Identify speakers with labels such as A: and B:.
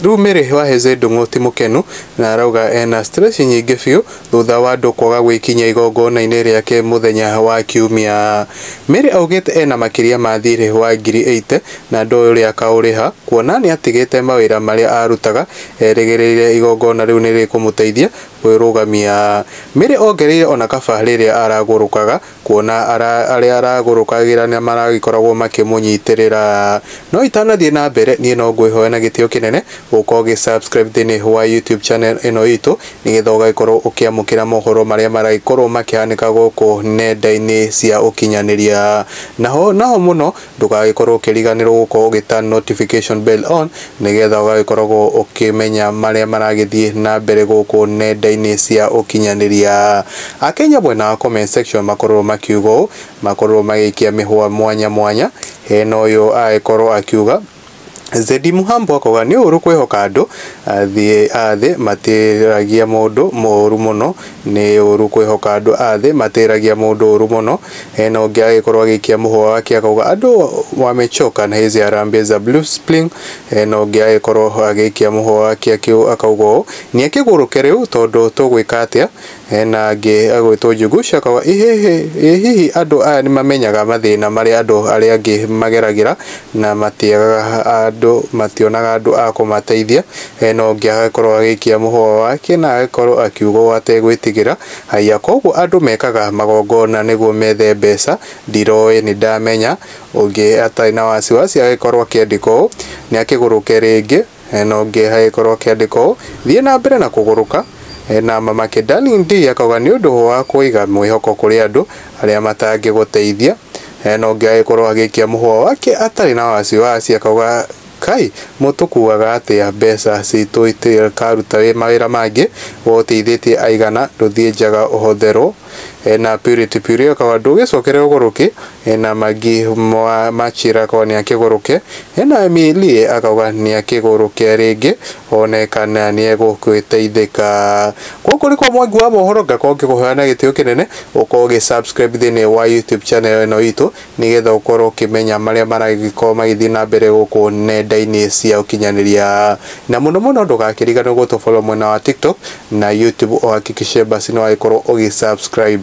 A: Rĩu Mary wa Heze Ndung'u ti mũkenu na arauga ena stress nyingĩ biũ thutha wa andũ kwaga gwĩkinyia igongona-inĩ rĩake mũthenya wa Kiumia. Mary augĩte ena makĩria ma thiirĩ wa ngiri ĩite na ndoĩ ũrĩa akaũrĩha kuona nĩatigĩte mawĩra marĩa arutaga erĩgĩrĩire igongona rĩu nĩrĩkũmũteithia kwĩrũgamia. Mary ongereire ona kaba rĩrĩa aragũrũkaga Kuona arĩa aragũrũkagĩra nĩ maragĩkoragwo makĩmũnyitĩrĩra. No itanathiĩ na mbere, niĩ no ngwĩhoya na gĩtĩo kĩnene ũkorwo ũgĩ subscribe thĩinĩ wa YouTube channel ĩno itũ, nĩgetha ũgagĩkorwo ũkĩamũkĩra mohoro marĩa maragĩkorwo makĩhanĩka gũkũ nenda-inĩ cia ũkinyanĩria. Naho naho mũno Ndũgagĩkorwo ũkĩriganĩrwo gũkorwo ũgĩ turn notification bell on nĩgetha ũgagĩkoragwo ũkĩmenya marĩa maragĩthiĩ na mbere gũkũ nenda-inĩ cia ũkinyanĩria. Akenya mwena wa comment section makorirwo makiuga ũũ, makorirwo magĩikia mĩhũa mwanya mwanya, hena ũyũ agĩkorwo akiuga, Zedi Muhambo akauga nĩ ũũru kwĩhoka andũ athĩ athĩ matĩragia mũndũ mũũru mũno nĩ ũũru kwĩhoka andũ athĩ matĩragia mũndũ ũũru mũno hena ũngĩ agĩkorwo agĩikia mũhũa wake akauga andũ wamechoka na hizi harambee za blue spring hena ũngĩ agĩkorwo agĩikia mũhũa wake akĩu- akauga ũũ niĩ kĩgũrũke rĩu tondũ tũgwĩka atĩa Hena angĩ agwĩtwo Njũgũ cia Kawa. Ĩ hĩhĩ! Ĩ hihi andũ aya nĩ mamenyaga mathĩna marĩa andũ arĩa angĩ mageragĩra na matiagaga andũ, mationaga andũ a kũmateithia? Hena ũngĩ agĩkorwo agĩikia mũhũa wake na agĩkorwo akiuga ũũ ategwĩtigĩra, Haiya, kwoguo andũ mekaga magongona nĩguo methe mbeca? Ndiroĩ, nĩ ndamenya. Ũngĩ atarĩ na wasiwasi agĩkorwo akĩandĩka ũũ, Nĩ akĩgũrũke rĩngĩ. No ngĩe hagĩkorwo kĩandĩko ũũ, Thiĩ na mbere na kũgũrũka, na mamake Darling Dee akauga nĩ ũndũ wa kũiga mwĩhoko kũrĩ andũ arĩa matangĩgũteithia. No ngĩe agĩkorwo agĩikia mũhũa wake atarĩ na wasiwasi akauga Kaĩ mũtũkuaga atĩa mbeca citũ itũkaruta mawĩra mangĩ, we ũteithĩtie aigana ndũthiĩ njaga ũhotherwo. e, na Purity Purity akaba ndũgĩcokere ũgũrũke e, na Magi Mwa Machira akaba nĩakĩgũrũke e, na Emilie akauga nĩakĩgũrũke rĩngĩ one kana nĩegũgĩteithĩka. Gũkũ nĩkwa Mwangi wa Mohoro ngakorwo ngĩkũhoya na gĩtĩo kĩnene ũkorwo ũgĩ subscribe thĩinĩ wa YouTube channel ĩno itũ. nĩgetha ũkorwo ũkĩmenya marĩa maragĩkorwo magĩthiĩ na mbere gũkũ nenda-inĩ cia ũkinyanĩria. Na mũno mũno ndũgakĩriganĩrwo gũ tũ follow mwena wa TikTok na YouTube ũhakikishe basi nĩ wagĩkorwo ũgĩ subscribe.